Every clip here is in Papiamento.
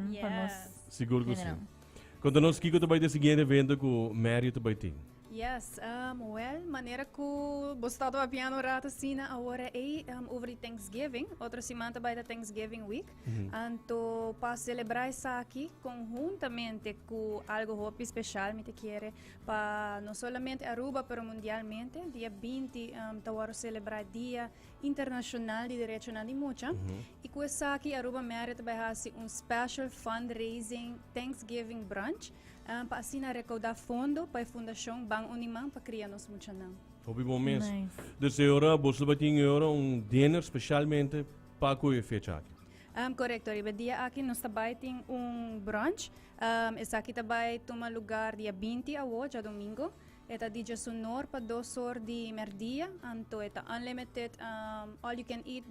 pa nos Sigur ku si. Konta nos kiko ta bai tin e siguiente evento ku Mario ta bai tin. Yes, um, well, manera ku bo stòp a piano rat asina awor ei um, over di Thanksgiving, otro siman ta bai ta Thanksgiving week. Anto pa selebrá esaki konhuntamente ku algo hopi spesial mi ta kere pa no solamente Aruba pero mundialmente dia binti um, ta wòrdu selebrá dia Internashonal di Derechonan di Mucha i ku esaki Aruba Media ta bai hasi un special fundraising Thanksgiving brunch pa asina rekouda fondo pa e fundashon Ban Uniman pa Kria Nos Muchanan. Hopi bon mes. Nice. Dus e ora boso lo bai tin e ora un dinner specialmente pa ku e fecha aki. Korekto, riba e dia aki nos ta bai tin un brunch. Esaki ta bai tuma lugar dia binti awo, djadomingo. E ta di djesunor pa dos or di merdia, anto e ta unlimited all you can eat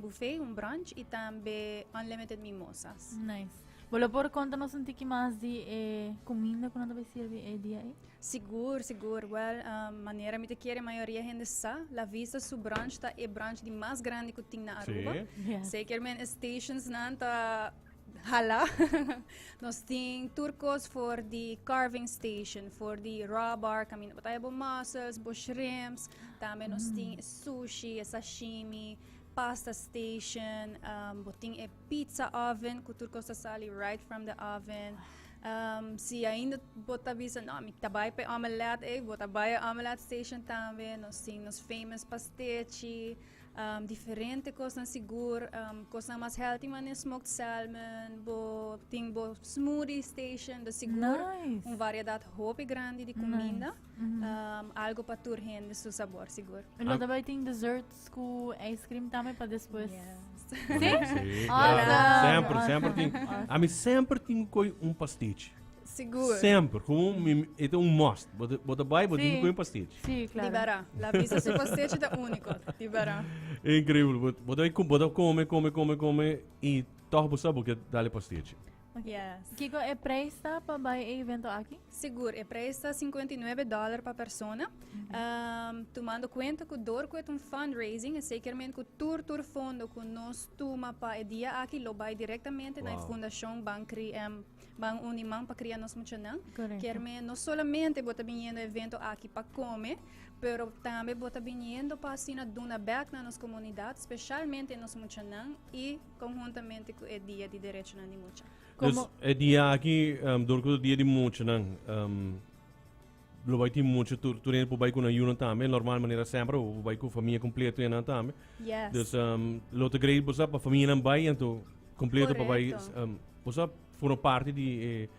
buffet, un brunch, y tambe unlimited mimosas. Nice. Bo lo por conta nos un tiki mas di e cuminda cu nan ta bay sirvi e dia ei? Sigur, sigur. Well, um, manera mi te quiere mayoria hende sa, La Vista su brunch ta e brunch di mas grandi cu tin na Aruba. Sí. Yeah. Zeker men e stations nan ta Hala. Nos tin tur cos for di carving station, for di raw bar, caminda pa taya bo mussels, bo shrimps. Tambe nos tin e sushi, e sashimi, pasta station. Um, bo tin e pizza oven, cu tur cos ta sali right from the oven. Um, si ainda bo ta bisa, no, mi ta bai pa e omelette, ey, bo ta bai e omelette station tambe. Nos tin nos famous pastechi. um, diferente kosnan sigur, um, kosnan mas healthy man e smoked salmon, bo ting bo smoothie station, do sigur nice. un variedad hopi grandi di comida, nice. mm -hmm. um, algo pa tur hende su sabor sigur. En lo daarbij ting desserts ku ice cream tambe pa despues. Yeah. Sí? sí. Awesome. Sempre, sempre ting. Awesome. Ami sempre ting koi un pastiche. Sigur. Semper. Como mi, e ta un must. Bo, bo ta bai, bo sí. dihi pastich. Sí, claro. Di bara. La visa su pastich ta único. Di bara. Increíble. Bo, bo ta bo ta come, come, come, come. Y toch bo sa bo ke dale pastich. Yes. Kiko e prijs ta pa bai e evento aki? Sigur, e prijs ta 59 dollar pa persona. Mm -hmm. um, tumando cuenta ku dor ku e un fundraising, e sekerment ku tur tur fondo ku nos tuma pa e dia aki lo bai directamente wow. na e fundacion Bankri M Ban uni man pa kria nos muchanan. Correcto. Kerme no solamente bota viniendo evento aki pa come, pero tambe bota viniendo pa asina duna back na nos comunidad, specialmente nos muchanan y conjuntamente cu e dia di derechonan di mucha. Como... Dus e dia aki, um, door cu dia di muchanan, um, Lo bai tin mucho tur tur ene por bai con ayuno tambe normal manera sempre o bai con familia completo y nan tambe. Yes. Dus um, lo te grei bosa pa familia nan bai en to completo pa bai Correcto. um, bosa forma parte di eh,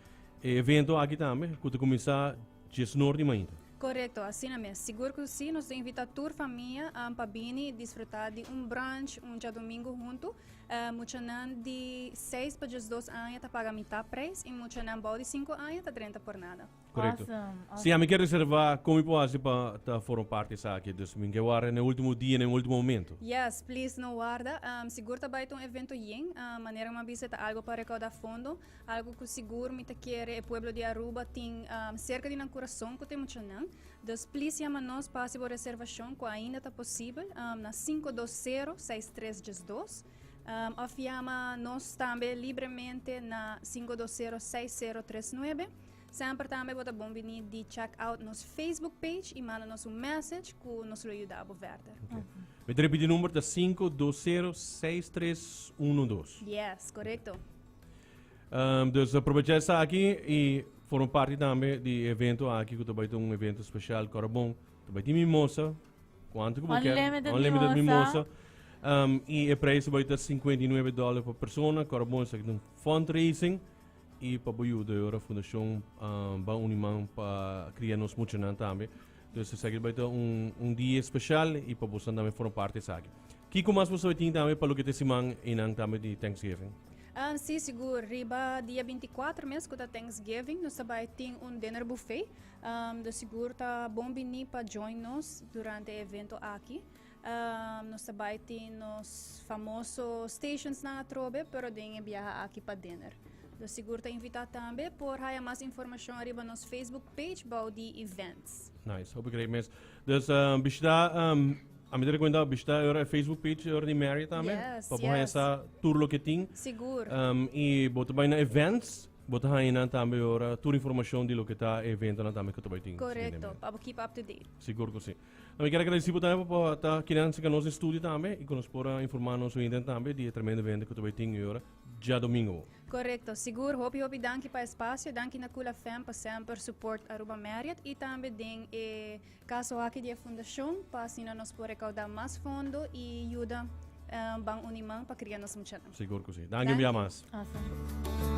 eh, evento aquí tambe que te comienza 10 noord di mañana. Correcto, así na mes. Seguro que sí, nos te invita tur familia um, pa bini disfrutar di un brunch, un día domingo junto. Uh, muchanan di 6 pa 12 aña ta paga mitad prijs y muchanan bou di 5 aña ta drenta por nada. Correcto. Awesome, Si ami ke reserva, con mi por haci pa ta forma parte esaki? Dus mi ke warda n'e ultimo dia, n'e ultimo momento. Yes, please no warda. Um, sigur ta bai ta un evento yen. Um, manera ku mi a bisa e ta algo pa recauda fondo, algo ku sigur mi ta kere e pueblo di Aruba tin um, cerca di nan curason ku ta mucha nan. Dus please yama nos pa haci bo reservacion ku ainda ta posibel um, na 520 6312 um, of yama nos tambe libremente na 520 6039. Semper tambe bo ta bon bini di check out nos Facebook page y manda nos un message cu nos lo yuda bo verder. Okay. Mi ta repiti number ta 5206312. Yes, correcto. Um, dus aprovecha esa aki y forma parte tambe di evento aki cu ta bai un evento special Corabon. Ta bai ti mimosa, cuanto que bo quer, Unlimited unlimited mimosa. mimosa. Um, y e prijs bai ta 59 dollar per persona. Corabon is aki un fundraising. i pa bo yuda e ora fundashon ban uni man pa kria nos muchanan tambe entonces esaki bai ta un un dia especial i pa bosan tambe forma parti esaki kiko mas bo sabi tin tambe pa loke ta e siman einan tambe di Thanksgiving Ah, sí, sigur. Riba dia 24 mes, ku ta Thanksgiving, nos ta bai tin un dinner buffet. Um, do sigur ta bon bini pa join nos durante e evento aki. Nos ta bai tin nos famoso stationsnan atrobe, pero den e biaha aki pa Dinner. Lo sigur ta invitá tambe. Por haya mas informashon riba nos Facebook page bou di Events. Nice, hopi great mes. Dus bishitá, a mi ta rekomendá bishitá e Facebook page di Marriott tambe. Yes, Pa bo haya yes. sa tur loke tin. Sigur. I bo ta bai na Events, bo ta haña nan tambe ora tur informashon di loke ta e eventonan tambe ku ta bai tin. Korekto, pa bo keep up to date. Sigur ku si. Nan mi ker agradeci bo tambe pa ta kiri nan sika nos den studio tambe y cu nos por a informa nos oyente tambe di e tremendo evento cu ta bay tin y ora dja domingo bo. Correcto, sigur. Hopi hopi danki pa espacio. Danki na Kula FM pa semper support Aruba Marriott y tambe den e caso aki di e fundacion pa asina nos por recauda mas fondo y yuda ban uniman pa cria nos muchanan. Sigur cu si. Danki un bia mas. Awesome.